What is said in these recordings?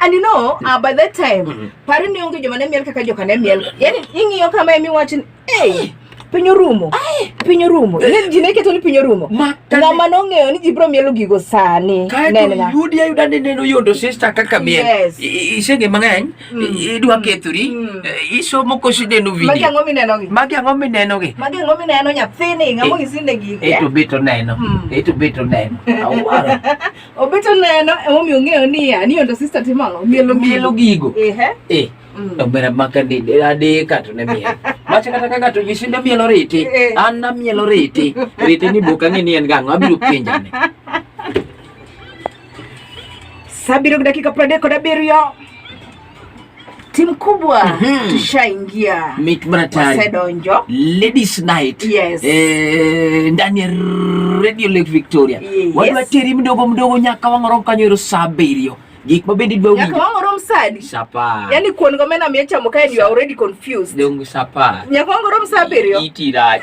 And you know, uh, by that time, mm -hmm. pari ni onge joma ne miel kaka joka ne miel. Yaani ing'iyo kama emi wachin, hey, piny orumo. Ay, piny orumo. Ne eh. ji ne keto ni piny orumo. Ma ng'ama nong'eyo ni ji bro mielo gigo sani. Nenna. Yudi ayuda ni neno yondo sister kaka miel. Yes. Isenge mang'eny, mm. idwa mm. kethori, mm. eh, isomo kosi neno video. Magi ang'o mineno gi? Magi ang'o mineno gi? Magi ang'o mineno nyathini, ng'amo eh. isinde gigo. Eto beto neno. Eto beto neno. Awara. Obeto neno emomiyo ong'eyo niya ni ondo sister timo ang'o mielo mielo gigo ehe eh mm. omera maka ni adeka to ne miel macha kata kaka to jisinde mielo riti eh. an na mielo riti riti ni boka ng'e ni en gang'o abiro penjane saa abiriyo gi dakika piero adek kod abiriyo timu kubwa mm -hmm. Tushaingia Sedonjo Ladies Night yes. E, ndani ya Radio Lake Victoria yes. Wadu wateri mdogo mdogo nyaka wang'orom kanyo ero saa abiriyo gik ma bende idwa winjo nyaka rom sadi sapa yani kuon go mena mie chamo kae you are already confused dongu sapa nyaka rom saa abiriyo iti rach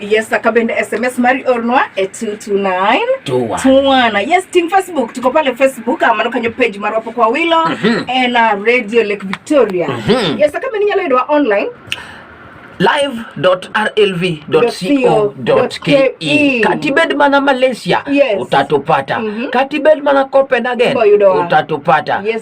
Yes, akabende SMS Mari Ornwa e 22921. Yes, team Facebook tuko pale Facebook amano kanyo page maro hapo kwa Wilo mm -hmm. and uh, Radio Lake Victoria. Mm -hmm. Yes, akabende nyalo yudwa online live.rlv.co.ke e. katibed mana Malaysia yes. utatupata mm -hmm. katibed mana Copenhagen utatupata yes.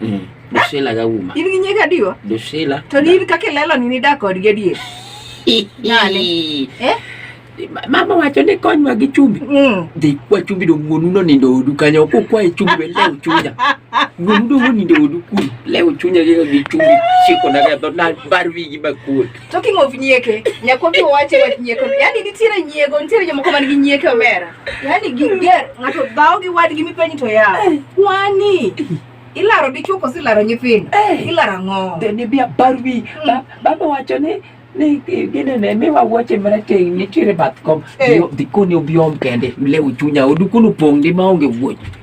Mm. Dusila ga uma. In gi nyega adiwa? Dusila. To ni in kaka ilelo ni nidak kodgi adier. Nani? Eh? Mama wacho ni konywa gi chumbi. Mm. Dhi kwa chumbi do wuonu no nindo odu kanyo ko kwa e chumbi be lew chunya. Wuonu do nindo odu kuri. Lew chunya gi chumbi. Chiko na ga do na barwi gi bakul. Talking of nyieke, nyakwagi wache wach nyieke. Yaani nitiere nyiego, nitiere jomoko man gi nyieke omera. Yaani giger, ng'ato dhawo gi wadgi mipenyi to yawo. Eh. Kwani ilaro dichuo koso ilaro nyithindo? Eh. Ilaro ang'o? Then be a barwi. Hmm. Baba wacho ni ni gine ne mi wa wache mana te nitiere bath kom. Eh. Dikoni obiom kende, lew chunya, odu kunu pong' di maonge wuoch.